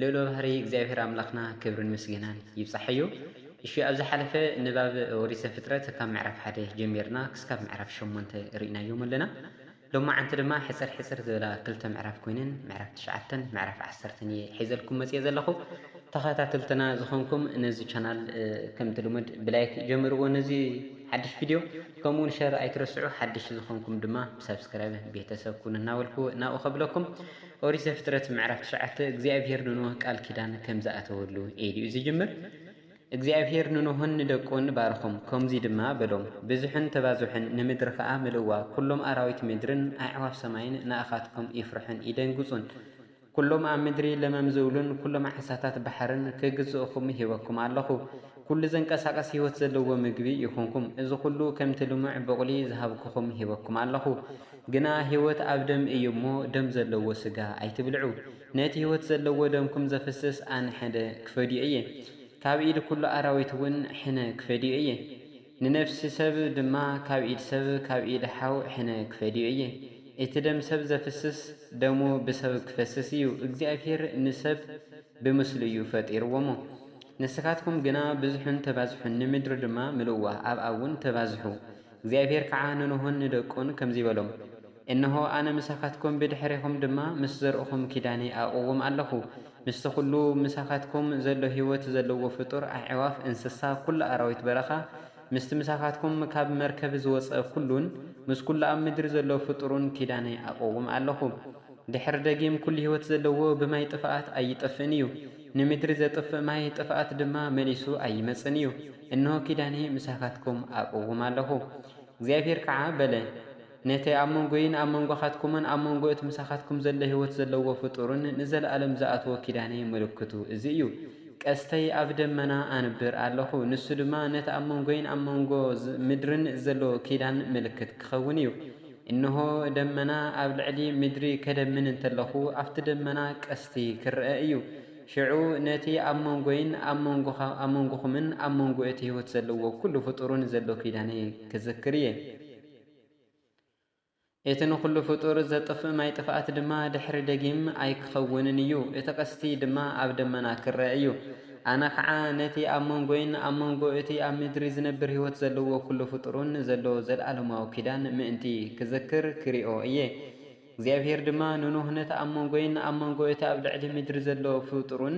ልዑለ ባህሪ እግዚኣብሔር ኣምላክና ክብርን ምስግናን ይብጻሐዮ እሺ ኣብ ዝሓለፈ ንባብ ኦሪት ዘፍጥረት ካብ ምዕራፍ ሓደ ጀሚርና ክስካብ ምዕራፍ ሸሞንተ ርኢናዮም ኣለና ሎማዓንቲ ድማ ሕጽር ሕጽር ዝበላ ክልተ ምዕራፍ ኮይነን ምዕራፍ ትሽዓተን ምዕራፍ ዓሰርተን እየ ሒዘልኩም መጽየ ዘለኹ ተኸታተልትና ዝኾንኩም ነዚ ቻናል ከምቲ ልሙድ ብላይክ ጀምርዎ ነዚ ሓድሽ ቪድዮ ከምኡውን ሸር ኣይትረስዑ ሓድሽ ዝኾንኩም ድማ ብሰብስክራይብ ቤተሰብ ኩኑ እናበልኩ ናብኡ ከብለኩም ኦሪት ዘፍጥረት ምዕራፍ ትሽዓተ እግዚኣብሄር ንኖህ ቃል ኪዳን ከም ዝኣተወሉ ኤልዩ ዝጅምር። እግዚኣብሄር ንኖህን ንደቁን ባረኾም፣ ከምዙይ ድማ በሎም፣ ብዝሑን ተባዝሑን፣ ንምድሪ ኸዓ ምልእዋ፣ ኵሎም ኣራዊት ምድርን ኣዕዋፍ ሰማይን ንኣኻትኩም ይፍርሑን ይደንግፁን፣ ኵሎም ኣብ ምድሪ ለመም ዝብሉን ኵሎም ዓሳታት ባሕርን ክግዝኡኹም ሂበኩም ኣለኹ። ኩሉ ዘንቀሳቅስ ህይወት ዘለዎ ምግቢ ኢኹንኩም። እዚ ኩሉ ከምቲ ልሙዕ ቡቕሊ ዝሃብኩኹም ሂበኩም ኣለኹ። ግና ህይወት ኣብ ደም እዩ እሞ ደም ዘለዎ ስጋ ኣይትብልዑ። ነቲ ህይወት ዘለዎ ደምኩም ዘፍስስ ኣነ ሕነ ክፈድዮ እየ። ካብ ኢድ ኩሉ ኣራዊት እውን ሕነ ክፈድዮ እየ። ንነፍሲ ሰብ ድማ ካብ ኢድ ሰብ ካብ ኢድ ሓው ሕነ ክፈድዮ እየ። እቲ ደም ሰብ ዘፍስስ ደሙ ብሰብ ክፈስስ እዩ። እግዚኣብሄር ንሰብ ብምስሉ እዩ ፈጢርዎሞ። ንስኻትኩም ግና ብዝሑን ተባዝሑን፣ ንምድሪ ድማ ምልኡዋ፣ ኣብኣ እውን ተባዝሑ። እግዚኣብሄር ከዓ ንኖሆን ንደቁን ከምዙይ በሎም፣ እንሆ፣ ኣነ ምሳኻትኩም፣ ብድሕሬኹም ድማ ምስ ዘርእኹም ኪዳነይ ኣእቕውም ኣለኹ፣ ምስቲ ዅሉ ምሳኻትኩም ዘሎ ህይወት ዘለዎ ፍጡር፣ ኣዕዋፍ፣ እንስሳ፣ ኵሉ ኣራዊት በረኻ፣ ምስቲ ምሳኻትኩም ካብ መርከብ ዝወፀ ኵሉን፣ ምስ ኵሉ ኣብ ምድሪ ዘሎ ፍጡሩን ኪዳነይ ኣእቕውም ኣለኹ። ድሕሪ ደጊም ኩሉ ህይወት ዘለዎ ብማይ ጥፍኣት ኣይጠፍእን እዩ፣ ንምድሪ ዘጥፍእ ማይ ጥፍኣት ድማ መሊሱ ኣይመጽእን እዩ። እንሆ ኪዳነይ ምሳኻትኩም ኣቕውም ኣለኹ። እግዚኣብሄር ከዓ በለ፣ ነቲ ኣብ መንጎይን ኣብ መንጎኻትኩምን ኣብ መንጎ እቲ ምሳኻትኩም ዘሎ ህይወት ዘለዎ ፍጡርን ንዘለኣለም ዝኣትዎ ኪዳነይ ምልክቱ እዚ እዩ፣ ቀስተይ ኣብ ደመና ኣንብር ኣለኹ፣ ንሱ ድማ ነቲ ኣብ መንጎይን ኣብ መንጎ ምድርን ዘሎ ኪዳን ምልክት ክኸውን እዩ። እንሆ፣ ደመና ኣብ ልዕሊ ምድሪ ኸደምን እንተለኹ፣ ኣብቲ ደመና ቀስቲ ኽርኣ እዩ። ሽዑ ነቲ ኣብ መንጎይን ኣብ መንጎኹምን ኣብ መንጎ እቲ ህይወት ዘለዎ ዅሉ ፍጡርን ዘሎ ኪዳነይ ክዝክር እየ። እቲ ንዅሉ ፍጡር ዘጥፍእ ማይ ጥፍኣት ድማ ድሕሪ ደጊም ኣይክኸውንን እዩ፣ እቲ ቐስቲ ድማ ኣብ ደመና ክርኣ እዩ። ኣነ ኸዓ ነቲ ኣብ መንጎይን ኣብ መንጎ እቲ ኣብ ምድሪ ዚነብር ህይወት ዘለዎ ኵሉ ፍጡርን ዘሎ ዘለኣለማዊ ኪዳን ምእንቲ ክዝክር ክሪኦ እየ። እግዚኣብሄር ድማ ንኖህ ነቲ ኣብ መንጎይን ኣብ መንጎ እቲ ኣብ ልዕሊ ምድሪ ዘሎ ፍጡርን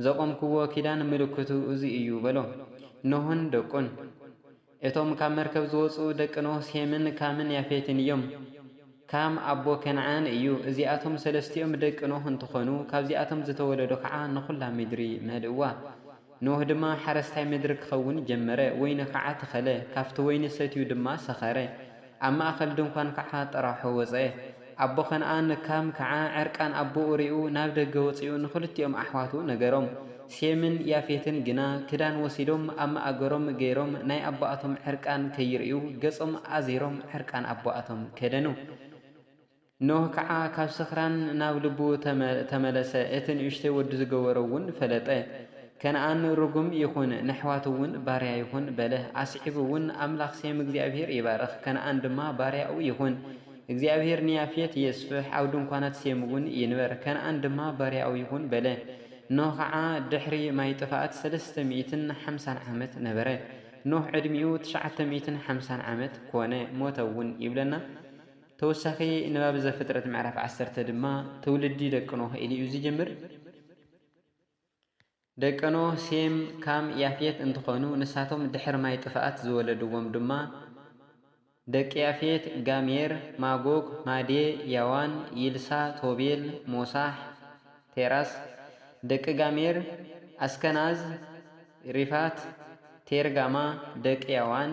ዘቖምክዎ ኪዳን ምልክቱ እዚ እዩ በሎ። ኖህን ደቁን እቶም ካብ መርከብ ዝወጽኡ ደቂ ኖህ ሴምን ካምን ያፌትን እዮም። ካም ኣቦ ከነዓን እዩ። እዚኣቶም ሰለስቲኦም ደቂ ኖህ እንትኾኑ ካብዚኣቶም ዝተወለዱ ከዓ ንኹላ ምድሪ መልእዋ። ኖህ ድማ ሓረስታይ ምድሪ ክኸውን ጀመረ፣ ወይኒ ከዓ ተኸለ፣ ካብቲ ወይኒ ሰትዩ ድማ ሰኸረ። ኣብ ማእከል ድንኳን ከኣ ጥራሑ ወጸ። ኣቦ ከነኣን፣ ካም፣ ከኣ ዕርቃን ኣቦኡ ርእዩ ናብ ደገ ወጺኡ ንኽልቲኦም ኣሕዋቱ ነገሮም። ሴምን ያፌትን ግና ክዳን ወሲዶም ኣብ መኣገሮም ገይሮም ናይ ኣቦኣቶም ዕርቃን ከይርእዩ ገጾም ኣዚሮም ዕርቃን ኣቦኣቶም ከደኑ። ኖህ ከዓ ካብ ስኽራን ናብ ልቡ ተመለሰ፣ እቲ ንእሽተይ ወዱ ዝገበሮ እውን ፈለጠ። ከነኣን ርጉም ይኹን፣ ንኣሕዋቱ እውን ባርያ ይኹን በለ። ኣስዒቡ እውን ኣምላኽ ሴም እግዚኣብሄር ይባርኽ፣ ከነኣን ድማ ባርያኡ ይኹን። እግዚኣብሄር ንያፌት የስፍሕ፣ ኣብ ድንኳናት ሴም እውን ይንበር፣ ከነኣን ድማ ባርያኡ ይኹን በለ። ኖህ ከዓ ድሕሪ ማይ ጥፍኣት ሰለስተ ሚእትን ሓምሳን ዓመት ነበረ። ኖህ ዕድሚኡ ትሽዓተ ሚእትን ሓምሳን ዓመት ኮነ፣ ሞተ እውን ይብለና። ተወሳኺ ንባብ ዘፍጥረት ምዕራፍ ዓሰርተ ድማ ትውልዲ ደቂ ኖህ ኢሉ እዩ ዝጅምር። ደቂ ኖህ ሴም፣ ካም፣ ያፌት እንትኾኑ ንሳቶም ድሕሪ ማይ ጥፍኣት ዝወለድዎም ድማ ደቂ ያፌት፣ ጋሜር፣ ማጎግ፣ ማዴ፣ ያዋን፣ ይልሳ፣ ቶቤል፣ ሞሳሕ፣ ቴራስ፣ ደቂ ጋሜር፣ ኣስከናዝ፣ ሪፋት፣ ቴርጋማ፣ ደቂ ያዋን፣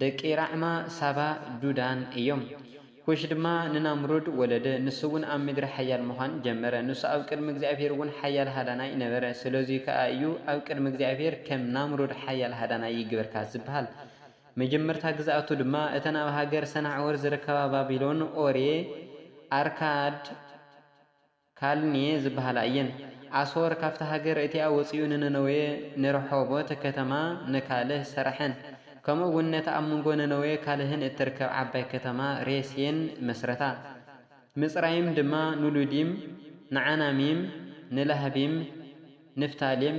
ደቂ ራዕማ ሳባ ዱዳን እዮም። ኩሽ ድማ ንናምሩድ ወለደ፣ ንሱውን ኣብ ምድሪ ሓያል ምዃን ጀመረ፣ ንሱ ኣብ ቅድሚ እግዚኣብሄርውን ሓያል ሃዳናይ ነበረ፣ ስለዙይ ከኣ እዩ ኣብ ቅድሚ እግዚኣብሄር ከም ናምሩድ ሓያል ሃዳናይ ይግበርካ ዝበሃል፣ መጀመርታ ግዝኣቱ ድማ እተን ኣብ ሃገር ሰናዕወር ዝርከባ ባቢሎን፣ ኦርየ፣ ኣርካድ፣ ካልኔ ዝበሃላ እየን። ኣሶር ካብታ ሃገር እቲኣ ወጺኡ ንነነዌ፣ ንረሖቦት ከተማ፣ ንካልህ ሰረሐን። ከምኡ እውን ነታ ኣብ ምንጎ ነነዌ ካልህን እትርከብ ዓባይ ከተማ ሬሴን መስረታ። ምጽራይም ድማ ንሉዲም፣ ንዓናሚም፣ ንላህቢም፣ ንፍታሌም፣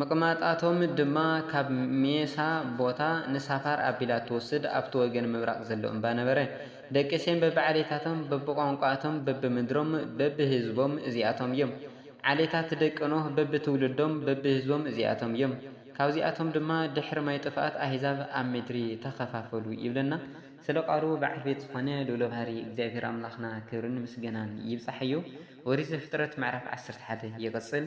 ምቕማጣቶም ድማ ካብ ሜሳ ቦታ ንሳፋር ኣቢላ እትወስድ ኣብቲ ወገን ምብራቕ ዘሎ እምባ ነበረ። ደቂ ሴም በብዓሌታቶም፣ በብቋንቋኣቶም፣ በብምድሮም፣ በብህዝቦም እዚኣቶም እዮም። ዓሌታት ደቂ ኖህ በብትውልዶም፣ በብህዝቦም እዚኣቶም እዮም። ካብዚኣቶም ድማ ድሕሪ ማይ ጥፍኣት ኣህዛብ ኣብ ምድሪ ተኸፋፈሉ ይብለና። ስለ ቃሉ በዓል ቤት ዝኾነ ልኡለ ባህሪ እግዚኣብሄር ኣምላኽና ክብርን ምስገናን ይብጻሓዮ። ኦሪት ዘፍጥረት ምዕራፍ ዓሰርተ ሓደ ይቕጽል።